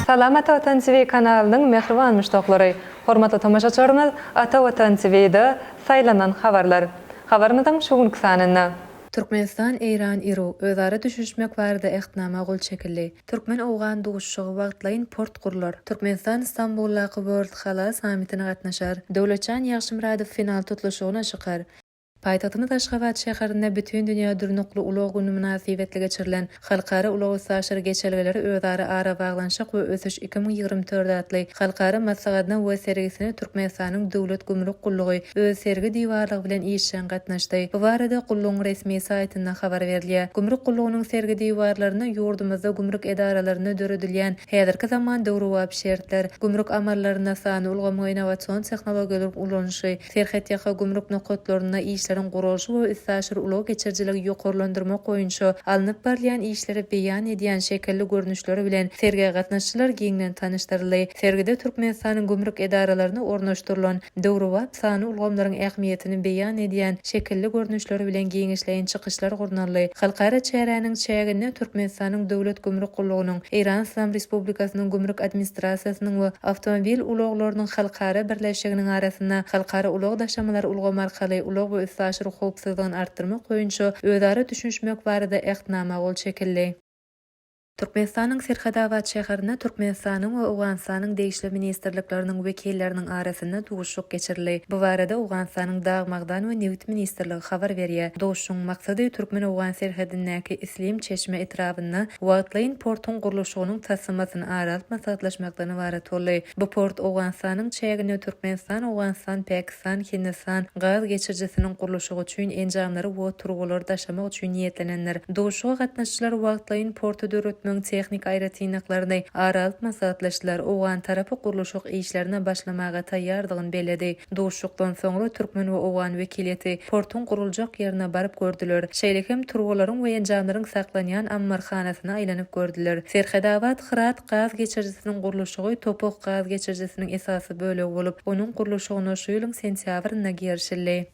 Salam Ata Watan TV kanalynyň mähriban muşdaklary! Hormatly tomaşaçylarymyz Ata Watan TVda Saýlanan habarlar! Habarymyzyň şu günki sanynda. Türkmenistan-Eýran-Iru özara düşünişmek barada Ähtnama gol çekildi. Türkmen-owgan duşuşygy wagtlaýyn port gurlar. Türkmenistan Stambuldaky World Halal sammitine gatnaşar. Döwletjan Ýagşymyradow final tutluşygyna çykar. Paýtagtymyz Aşgabat şäherinde Bütindünýä durnukly ulag güni mynasybetli geçirilen Halkara ulag-üstaşyr geçelgeleri özara arabaglanyşyk we ösüş iki müň ýigrimi dört atly halkara maslahatyna we sergisine Türkmenistanyň Döwlet gümrük gullugy öz sergi diwarlygy bilen işjeň gatnaşdy. Bu barada gullugyň resmi saýtynda habar berilýär. Gümrük gullugynyň sergi diwarlarynda ýurdumyzda gümrük edaralarynda döredilýän häzirki zaman döwrebap şertler, gümrük amallaryna sanly ulgamyň innowasion tehnologiýalaryň ulanyşy, serhetýaka gümrük nokatlarynda işleriň guralyşy we üstaşyr ulag geçirijiligi ýokarlandyrmak boýunça alnyp barylýan işleri beýan edýän şekilli görnüşleri bilen sergä gatnaşyjylar giňden tanyşdyryldy. Sergide Türkmenistanyň gümrük edaralaryna ornaşdyrylan döwrebap sanly ulgamlaryň ähmiýetini beýan edýän şekilli görnüşleri bilen giňişleýin çykyşlar gurnaldy. Halkara çäräniň çäginde Türkmenistanyň Döwlet gümrük gullugynyň, Eýran Yslam Respublikasynyň Gümrük administrasiýasynyň we Awtomobil ulaglarynyň halkara birleşiginiň arasynda halkara ulag daşamalary ulgamy arkaly ulag we üstaşyr howpsuzlygyny artdyrmak boýunça özara düşünişmek barada Ähtnama gol çekildi. Türkmenistanyň Serhetabat şäherinde Türkmenistanyň we Owganystanyň degişli ministrlikleriniň wekilleriniň arasynda duşuşyk geçirildi. Bu barada Owganystanyň Dag-magdan we nebit ministrligi habar berýär. Duşuşygyň maksady türkmen-owgan serhedindäki Islim Çeşme etrabynda wagtlaýyn portuň gurluşygynyň taslamasyny ara alyp maslahatlaşmakdan ybarat boldy. Bu port Owganystanyň çäginde Türkmenistan, Owganystan, Pakistan, Türkmenistan, Hindistan gaz geçirijisiniň gurluşygy üçin enjamlary we turbulary daşamak üçin niýetlenendir. Duşuşyga gatnaşyjylar wagtlaýyn porty döretmegiň tehniki aýratynlyklaryny ara alyp maslahatlaşdylar. Owgan tarapy gurluşyk işlerine başlamaga taýýardygyny belledi. Duşuşykdan soňra türkmen we owgan wekiliýeti portuň guruljak ýerine baryp gördüler. Şeýle hem turbularyň we enjamlaryň saklanýan ammarhanasyna aýlanyp gördüler. Serhedabad, Hyrat gaz geçirijisiniň gurluşygy Topok gaz geçirijisiniň esasy ykdysady bölegi bolup, onuň gurluşygyna şu ýylyň sentýabrynda girişildi.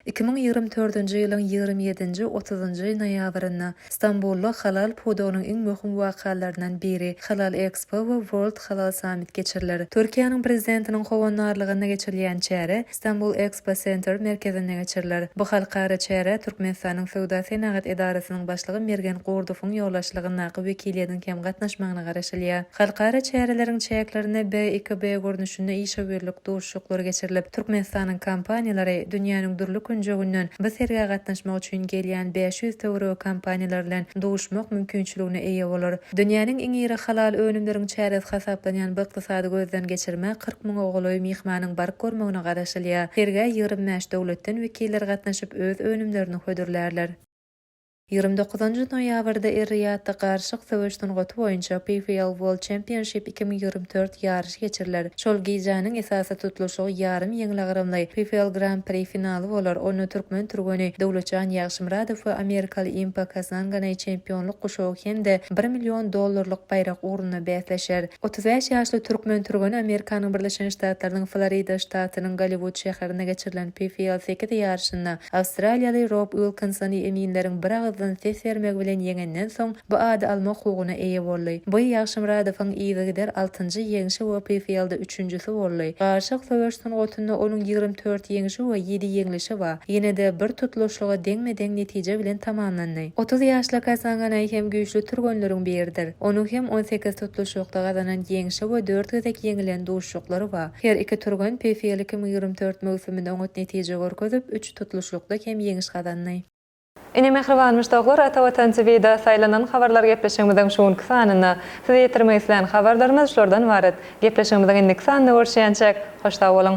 Iki müň ýigrimi dördünji ýylyň ýigrimi ýedinji, otuzynjy noýabrynda Stambulda halal pudagynyň iň möhüm wakalaryndan biri, Halal Expo we World Halal Summit geçiriler. Türkiýäniň Prezidentiniň howandarlygynda geçirilýän çäre Stambul Expo Center merkezinde geçiriler. Bu halkara çärä Türkmenistanyň Söwda-senagat edarasynyň başlygy Mergen Gurdowyň ýolbaşçylygyndaky wekiliýetiň hem gatnaşmagyna garaşylýar. Halkara çäreleriň çäklerinde BIKB görnüşinde işewürlik duşuşyklary geçirilip, Türkmenistanyň kompaniýalary dünýäniň dürli künjeginden bu sergä gatnaşmak üçin gelýän bäş ýüz töweregi kompaniýalar bilen duşmak mümkinçiligine eýe bolar. Dünýäniň iň iri halal önümleriň çäresi hasaplanýan bu ykdysady gözden geçirmä kyrk müňe golaý myhmanyň baryp görmegine garaşylýar. Sergä ýigrimi bäş döwletden wekiller gatnaşyp, öz önümlerini hödürlärler. Ýigrimi dokuzynjy noýabrda Er-Riýadda Garşyk söweş sungaty boýunça PFL World Championship iki müň ýigrimi dört ýaryşy, ýaryş geçiriler. Şol gijäniň esasy tutluşygy ýarym ýeňilagramly PFL Gran Pri finaly bolar, onda türkmen türgeni Döwletjan Ýagşymyradow we amerikaly Impa Kasanganay çempionlyk guşagy hem-de bir million dollarlyk baýrak ugrunda bäsleşer. Otuz bäş ýaşly türkmen türgeni Amerikanyň Birleşen Ştatlarynyň Florida ştatynyň Golliwud şäherinde geçirilen PFL sekiz ýaryşynda awstraliýaly Rob Uilkinsony eminleriň biragyzdan ses bermegi bilen ýeňenden soň, Bu ady alma hukugyna eýe boldy. Boý Ýagşymyradowyň yzygider altynjy ýeňşi we PFL-de üçünjisi boldy. Garyşyk söweş sungatynda onuň ýigrimi dört ýeňşi we ýedi ýeňlişi bar. Ýene-de bir tutluşlygy deňme-deň netije bilen tamamlandy. Otuz ýaşly Kasanganay hem güýçli türgenleriň biridir. Onuň hem on sekiz tutluşykda gazanan ýeňşi we dört gezek ýeňilen duşuşyklary bar. Her iki türgen PFL iki müň ýigrimi dört möwsüminde oňat netije görkezip, üç tutluşlykda hem ýeňiş gazandy. Ine mähriban muşdaklar Ata Watan TVda saýlanan habarlar gepleşigimiziň şu günki sanynda size ýetirmek islän habarlarymyz şulardan ybarat. Gepleşigimiziň indiki sanynda görüşýänçäk hoş sag boluň.